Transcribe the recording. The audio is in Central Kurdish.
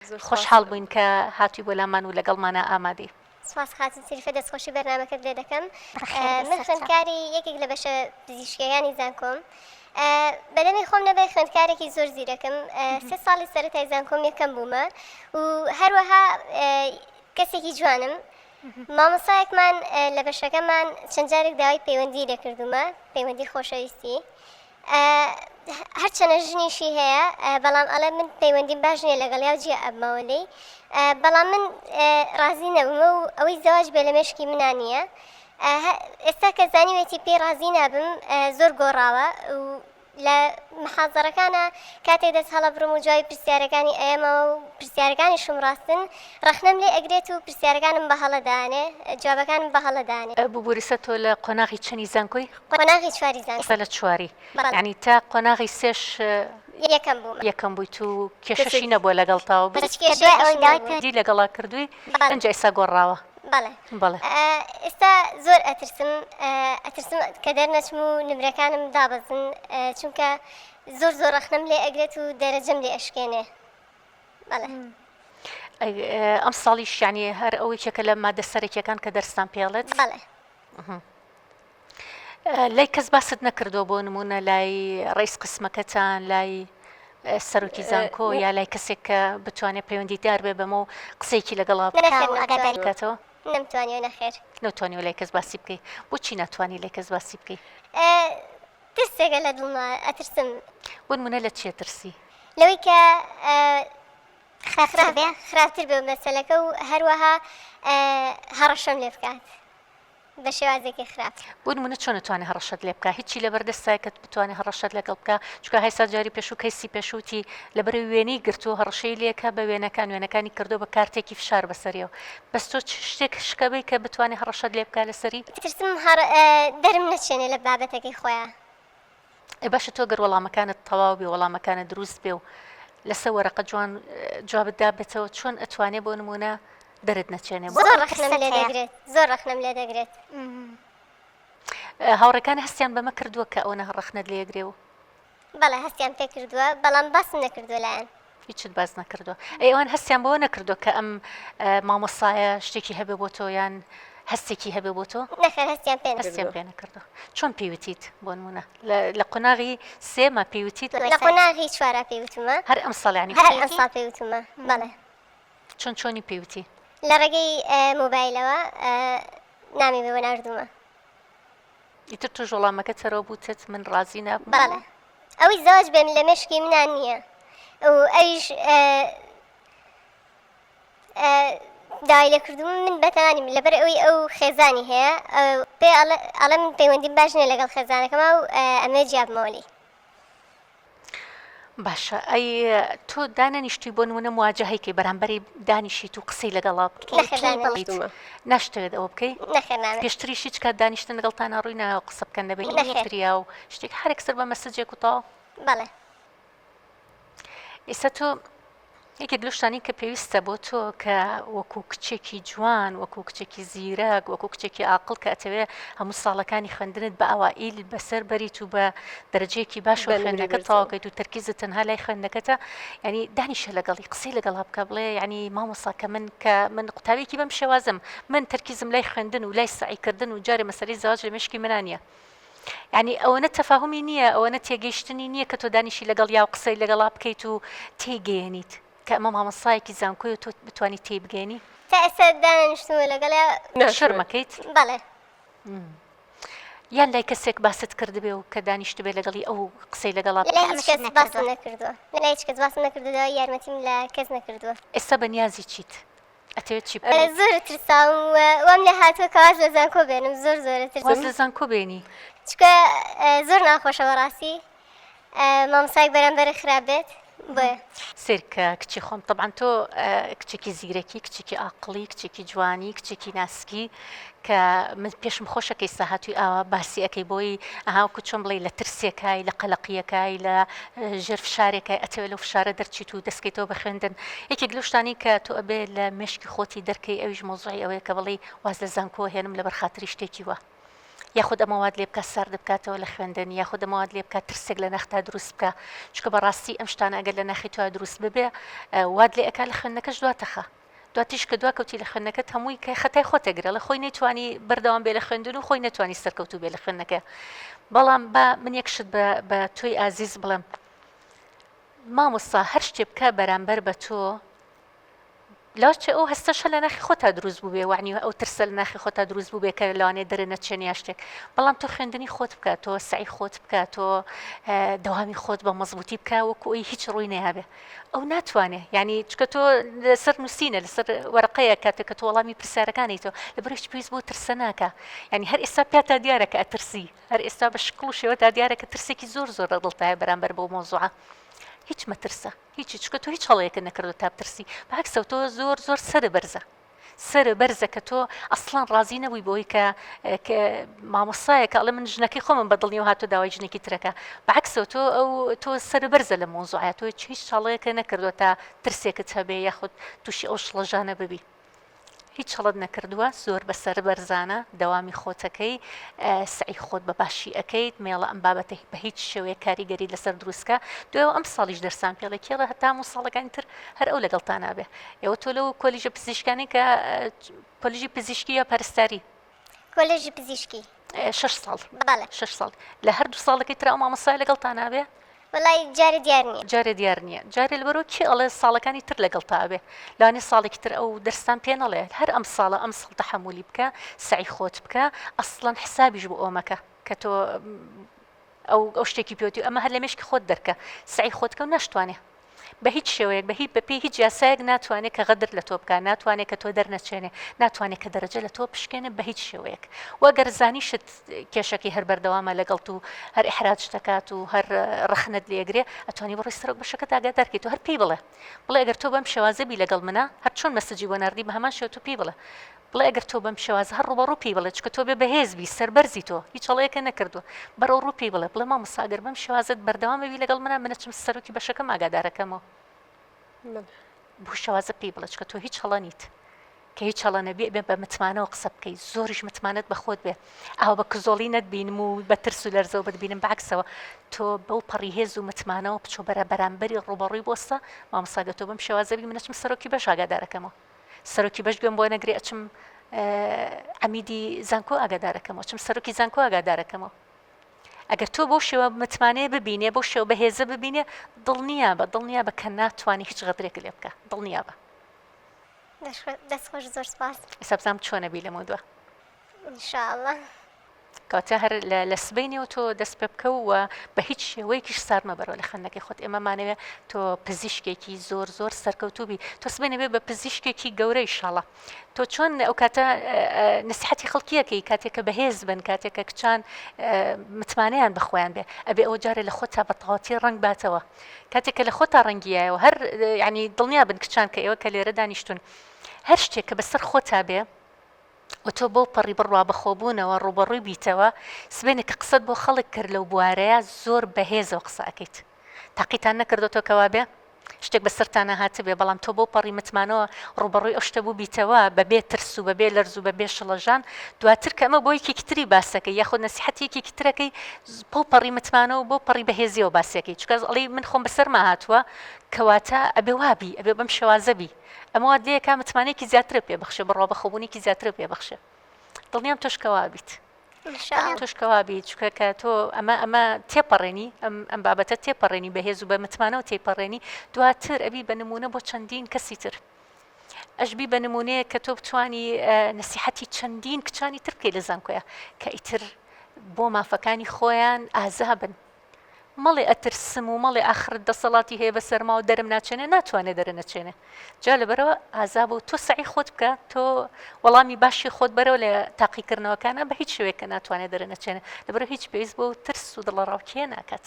زۆر سوپاس. خۆشحاڵ بووین کە هاتووی بۆ لامان و لەگەڵمانە ئامادەی. سوپاس خاتون سریفە دەستخۆشی بەرنامەکەت لێ دەکەم من خوێندکاری یەکێک لە بەشە پزیشکیەکانی زانکۆم بەدەمی خۆم نەبێ خوێندکارێکی زۆر زیرەکم سێ ساڵی سەرەتای زانکۆم یەکەم بوومە و هەروەها کەسێکی جوانم مامۆسایەکمان لە بەشەکەمان چەند جارێک داوای پەیوەندی لێکردومە پەیوەندی خۆشەویستی هەرچەنە ژنیشی هەیە بەڵام ئەڵێ من پەیوەندیم باش نیە لەگەڵ یا جیە ئەبمەوە لێی بەڵام من ڕازی نەبمە و ئەوەی زەواج بێ لە مێشکی منا نییە ئێستا کە زانیوێتی پێی ڕازی نابم زۆر گۆڕاوە و لە محازەرەکانە کاتێ دەست هەڵە بڕم و جوای پرسیارەکانی ئەمە و پرسیارەکانی شم ڕاستن ڕخنەم لێ ئەگرێت و پرسیارەکانم بە هەڵەدانێ جوابەکانم بە هەڵەدانێ ببوورسە تۆ لە قۆناغی چەنی زانکۆی قۆناغی چواری زانکۆ. ئێستا لە چواری. بەڵێ. یانی تا قۆناغی سێش. یەکەم بووم. یەکەم بوویت و کێشەشی نەبووە لەگەڵ تا و. هیچ کێشەیەکی نەبوو. کە دوای ئەوەی داوای. دی لەگەڵا کردووی. بەڵێ. ئینجا ئێستا گۆڕاوە. بەڵێ. بەڵێ. ئێستا زۆر ئەترسم ئەترسم کە دەرنەچم و نمرەکانم دابەزن چونکە زۆر زۆر ڕەخنەم لێ ئەگرێت و دەرەجەم لێ ئەشکێنێ بەڵێ. ئەی ئەمساڵیش یانی هەر ئەوەی کێکە لە مادە سەرەکیەکان کە دەرستان پێڵێت. بەڵێ. لای کەس باست نەکردووە بۆ نمونە لای ڕیس قسمەکەتان لای سەرۆکی زانکۆ یا لای کەسێک کە بتوانێت پەیوەندیدار بێ بەمە و قسێکی لەگەڵا بکاتەوە نمتوانی نەخێر نەتوانی و لای کەس باسی بکەی بۆچی ناتوانانی لای کەس باسی بکەی ترسێکە لە دڵما ئەترسم بۆ منە لە چیە ترسی لەوەی کە خراپتر بێ خراپتر بێ مەسلەکە و هەروەها هەڕەشەم لێ بکات بە شێوازێکی خراپ. بۆ نمونە چۆن ئەتوانێ هەڕەشەت لێ بکا هیچی لەبەر دەستە کە بتوانێ هەڕەشەت لەگەڵ بکا چونکە هەیسا جاری پێشوو کەیسی پێشوو تی لەبەرەوەی وێنەی گرتووە هەڕەشەی لێ کە بە وێنەکان وێنەکانی کردووە بە کارتێکی فشار بەسەریەوە بەس تۆ چ شتێک شکە بی کە بتوانێ هەڕەشەت لێ بکا لەسەری ترسم هەڕ دەرم نەچێنێ لە بابەتەکەی خۆیان. ئێ باشە تۆ گەر وەڵامەکانت تەواو بێ وەڵامەکانە دروست بێ و لەسە وەرەقە جوان جوابت دابێتەوە چۆن ئەتوانێ بۆ نمونە دەرت نەچێنێ زۆر ڕخنم لێ دەگرێت هاوڕەکان هەستیان بەمە کردووە کە ئەوە نە ڕخنت لێگرێ و بەڵێ هەستیان پێ کردووە بەڵام باس نەکردو لایەن هیچت باس نەکردو ئەی ئەوان هەستیان بەوە نەکردو کە ئەم مامۆسایە شتێکی هەبێ بۆ تۆ یان هەستێکی هەبێ بۆ تۆ هەستیان پێ نەکردو چۆن پێوتیت بۆ نمونە لە قۆناغی سێمە پێوتیت لە قۆناغی چوارا پێوتمە هەر ئەم ساڵیانی هەر ئەم ساڵ پێوتمە بەڵێ چۆن چۆنی پێوتی لە ڕێگەی مۆبایلەوە نامی بێ بە ناردوومە ئیتر تۆش وەڵامەکەت سەرەوە بوتت من ڕازی نەبم. بەڵێ ئەوەی زەواج بێم لە مێشکی منا نییە و ئەویش داوای لێ کردووم من بەتەمانیم لەبەر ئەوی ئەو خێزانی هەیە پێ ئەڵێ من پەیوەندیم باش نیە لەگەڵ خێزانەکەما و ئەمێ جیابمەوەلی باشە ئەی تۆ دانەنیشتی بۆن ونە مواجهەیەکی بەرامبەری دانیشیت و قسەی لەگەڵا ناشتەوێت ئەوە بکەی پێشتری شیچ کات دانیشتن لەگەڵتان ڕووی ناوە قسە بکەن دەبێت دریا و شتێک هەرێک سەر بە مەسجێک و تا بەڵێ ئێستا تۆ یەکێک لەو شتانەی کە پێویستە بۆ تۆ کە وەکو کچێکی جوان وەکو کچێکی زیرەک وەکو کچێکی ئاقل کە ئەتەوێ هەموو ساڵەکانی خوێندنت بە ئەوائیل بەسەر بەریت و بە دەرەجەیەکی باش و بە نمرەی خوێندنەکە بەرزەوە. تەواوکەیت و تەرکیزت تەنها لای خوێندنەکەتە ینی دانیشە لەگەڵی قسەی لەگەڵا بکە بڵێ ینی مامۆسا کە من کە من قوتابیەکی بەم شێوازم من تەرکیزم لای خوێندن و لای سەعیکردن و جارێ مەسەلەی زەواج لە مێشکی منا نییە یانی ئەوەنە تەفاهومی نییە، ئەوەنە تێگەیشتنی نییە کە تۆ دانیشی لەگەڵیا و قسەی لەگەڵا بکەیت و تێیگەیەنیت، کە ئەمە مامۆستایەکی زانکۆیە و تۆ بتوانیت تێیبگەیەنی؟ تا ئێستا دانەنیشتوومە لەگەڵیا. شەرم ئەکەیت؟ بەڵێ. یان لای کەسێک باست کردبێ و کە دانیشتبێ لەگەڵی ئەو قسەی لەگەڵا بکەی؟ لای هیچ کەس باست نەکردووە. لای هیچ کەس باست نەکردووە، یارمەتیم لە کەس نەکردووە. ئێستا بەنیازی چیت؟ ئەتەوێت چی بکەی؟ زۆر ترساوم و وام لێ هاتووە کە واز لە زانکۆ بێنم زۆر زۆر ئەترسم. واز لە زانکۆ بێنی؟ چونکە زۆر ناخۆشە بەڕاستی مامۆستایەک بەرامبەرت خراپ بێت بۆیە. سەیرکە کچی خۆم تەبعەن تۆ کچێکی زیرەکی کچێکی ئاقڵی کچێکی جوانی کچێکی ناسکی کە من پێشم خۆشە کەی ساهاتوی ئاوا باسی ئەکەی بۆی ئەها وەکو چۆن بڵێی لە ترسێکای لە قەلەقیەکای لە ژێر فشارێکای ئەتەوێت لەو فشارە دەرچیت و دەستکەیتەوە بە خوێندن یەکێک لەو شتانەی کە تۆ ئەبێ لە مێشکی خۆتی دەرکەی ئەویش مەوزوعی ئەوەیە کە بڵێی واز لە زانکۆوە هێنم لەبەر خاتری شتێکی وە یاخود ئەمە وات لێ بکات سارد بکاتەوە لە خوێندن یاخود ئەمە وات لێ بکات ترسێک لە ناختا دروست بکە چونکە بەڕاستی ئەم شتانە ئەگەر لە ناخی توا دروست ببێ وات لێ ئەکا لە خوێندنەکەش دواتەخە دواتیش کە دوا کەوتی لە خوێندنەکەت هەمووی کە خەتای خۆتە گرەڵە خۆی نەیتوانی بەردەوام بێ لە خوێندن و خۆی نەتوانی سەرکەوتو بێ لە خوێندنەکە بەڵام بە من یەکشت بە تۆی ئازیز بڵم مامۆستا هەر شتێ بکە بەرامبەر بە تۆ لاچێ ئەو هەستەشە لە ناخی خۆتا دروست بووێ وانی ئەو ترسە لە ناخی خۆتا دروست بوو بێکە لەوانێ دەرە نەچێن یا شتێک بەڵام تۆ خوێندنی خۆت بکات تۆ سعی خۆت بکات تۆ دەوامی خۆت بە مەزبوتی بکە وەکوی هیچ ڕووی نەیابێ ئەو ناتوانێ ینی چکە تۆ لەسەر نووسینە لەسەر وەرقەیە کاتێک کە تۆ وەڵامی پرسیارەکانی تۆ لە بەرش پێویست بۆ ترسە ناکە ینی هەر ئێستا پێ تا دیارە کە ئەترسی هەر ئێستا بە شکڵ و شێوە تا دیارە کە ترسێکی زۆر زۆر لە دڵتایە بەرامبەر بۆ مۆزوعە هیچ مەترسە هیچی چکە تۆ هیچ هەڵەیەکە نەکردو تا بترسی باکسە تۆ زۆر زۆر سەر بەرزە سەرە بەرزە کە تۆ ئەسڵان ڕازی نەبووی بۆی کە مامۆستایە کە ئەڵێ من ژنەکەی خۆمم بە دڵنیەوە هاتو داوای ژنێکی ترەکە بەعکسۆ تۆ ئەو تۆ سەرە بەرزە لە مۆزوعە تۆ هیچ چاڵەیەکە نەکردووە تا ترسێکت هەبێ یاخود تووشی ئەو شڵەژانە ببی. هیچ چڵت نەکردووە زۆر بەسەر بەرزانە دەوامی خۆتەکەی سعی خۆت بە باشی ئەەکەیت مێڵە ئەم بابەتە بە هیچ شێوەیە کاریگەری لەسەر دروستکە دوێ ئەم ساڵیش دەرسان پێڵێ کێڵە هەتام و ساڵەکانی تر هەر ئەو لەگەڵتانابێ ئێوە تۆ لەو کۆلیژە پزیشکانی کە کۆلیژی پزیشکی یا پەرستاری کۆلێژی پزیشکی شش ساڵ بەڵێ شش ساڵ لە هەردوو ساڵەکەی ترا و مامۆسای لەگەڵ تا نابێ وڵی جارە دیار نیە جارێ دیار نییە جارێ لەبەرۆ کێ ئەڵێ ساڵەکانی تر لەگەڵ تاوێ لانی ساڵێکی تر ئەو دەرستان پێ نەڵێ هەر ئەم ساڵە ئەم ساڵ تەحملی بکە سعی خۆت بکە ئەسڵەن حسابیش بۆ ئۆمەکە کە تۆ ئەو ئەو شتێکی پێوتی ئەمە هەر لە مشکی خۆت دەرکە سعی خۆتکە و نشتوانێ بە هیچ شێوەیەک بە هیچ بەپێی هیچ یاسایەک ناتوانێت کە غەدر لە تۆ بکە ناتوانێت کە تۆ دەرنەچێنێ ناتوانێت کە دەرەجە لە تۆ پشکێنە بە هیچ شێوەیەک وەگەر زانیشت کێشەکی هەر بەردەوامە لەگەڵ و هەر ئحراج دەکات و هەر ڕخنت لێگرێ ئەتوانی بڕی سەرک بەشەکە داگا دەرکەیت و هەر پێی بڵێ بڵێ گەر تۆ بەم شێوازەبی لەگەڵ منە هەر چۆن مەسجی بۆ نردی بە هەمان شێوە تو پێی بڵێ بەڵێ ئەگەر تۆ بەم شێوازە هەر ڕووبەڕوو پێی بڵێ چونکە تۆ بێ بەهێز بی سەربەرزی تۆ هیچ هەڵەیەکە نەکردووە بەرەو ڕوو پێی بڵێ بڵێ مامۆستا ئەگەر بەم شێوازەت بەردەوامە بی لەگەڵ منە من ئەچم سەرۆکی بەشەکەم ئاگادارەکەمەوە بۆ شێوازە پێی بڵێ چونکە تۆ هیچ هەڵە نیت کە هیچ هەڵە نەبێ بێ بە متمانەوە قسە بکەیت زۆریش متمانەت بەخۆت بێ ئاو بە کزۆڵی نەتبینم و بە ترس و لەرزەوە بتبینم باکسەوە تۆ بەو پەڕی هێز و متمانەوە بچۆ بەرە بەرامبەری ڕوبەڕووی بۆستە مامساگە تۆ بم شێوازەبی منەچم سەرۆکی بەشاگادارەکەمەوە سەرۆکی بەش گوێم بۆ نەگرێ ئەچم عمیدی زانکۆ ئاگادارەکەمەوە چم سەرۆکی زانکۆ ئاگادارەکەمەوە ئەگەر تۆ بۆ شێوە متمانەیە ببینێ بۆ شێو بەهێزە ببینێ دڵنییا بە دڵنیا بە کە ناتوانانی هیچ غەدرێک لێ بکە دڵنییا بە دەستخۆش زۆر سپاس سەبزام چۆنەبی لەمە دووە ان شاء اللە. کەواتە هەر لە سبەینێ و تۆ دەست پێ بکەوە بە هیچ شێوەیەکیش سار مەبەرەوە لە خەندەکەی خۆت ئێمە مانەوێ تۆ پزیشکێکی زۆر زۆر سەرکەوتوبی تۆ سبێنەوێ بە پزیشکێکی گەورەی شەڵە تۆ چۆن ئەو کاتە نسیحەتی خەڵکیەکەی کاتێکە بەهێز بن کاتێکە کچان متمانیان بەخۆیان بێ ئەبێ ئەو جارە لە خۆتا بە تەواتی ڕنگ باتەوە کاتێکە لە خۆتا ڕەنگیایەوە هەر ینی دڵنیا بن کچان کە ئێوە کە لێرە دانیشتون هەر شتێک کە بەسەر خۆتا بێ و تۆ بەو پەڕی بڕوا بەخۆبوونەوە ڕووبەڕووی بیتەوە، سبەینێ کە قسەت بۆ خەڵک کرد لەو بوارەیە زۆر بەهێزەوە قسە ئەکەیت. تاقیتان نەکردۆتەوە کە وابێ؟ شتێک بە سەرتانا هاتبێ بەڵام تۆ بەو پەڕی متمانەوە ڕووبەڕووی ئەو شتە بووبیتەوە بەبێ ترس و بەبێ لەرز و بەبێ شڵەژان، دواتر کە ئەمە بۆ یەکێکی تری باسەکەی یاخود نەسیحەتی یەکێکی ترەکەی بەو پەڕی متمانە و بەو پەڕی بەهێزیەوە باسیەکەی چونکە ئەڵێی من خۆم بەسەرما هاتووە کەواتە ئەبێ وابی ئەبێ بەم شێوازە بی. ئەمە وات لێ ئەکا متمانەیەکی زیاترت پێ بخشێ، بڕوابەخۆبوونێکی زیاترت پێ بخشێ. دڵنیام تۆش کە وا بیت. دڵنیام تۆش کە وا بیت، چونکە کە تۆ ئەمە ئەمە تێپەڕێنی، ئەم ئەم بابەتە تێپەڕێنی بە هێز و بە متمانەوە تێیپەڕێنی، دواتر ئەبی بە نموونە بۆ چەندین کەسی تر. ئەشبی بە نموونەیەک کە تۆ بتوانی نەسیحەتی چەندین کچانی تر بکەی لە زانکۆیە کە ئیتر بۆ مافەکانی خۆیان ئازا بن. مەڵێ ئەترسم و مەڵێ ئاخرت دەسەڵاتی هەیە بە سەرما و دەرم ناچێنێ ناتوانێ دەرە نەچێنێ جا لەبەرەوە ئازا بۆ تۆ سعی خۆت بکە تۆ وەڵامی باشی خۆت بەرەوە لە تاقیکردنەوەکانە بە هیچ شوێکە ناتوانێت دەرە نەچێنێ لەبەرە هیچ پێویست بۆ ترس و دڵە ڕاوکیە ناکات.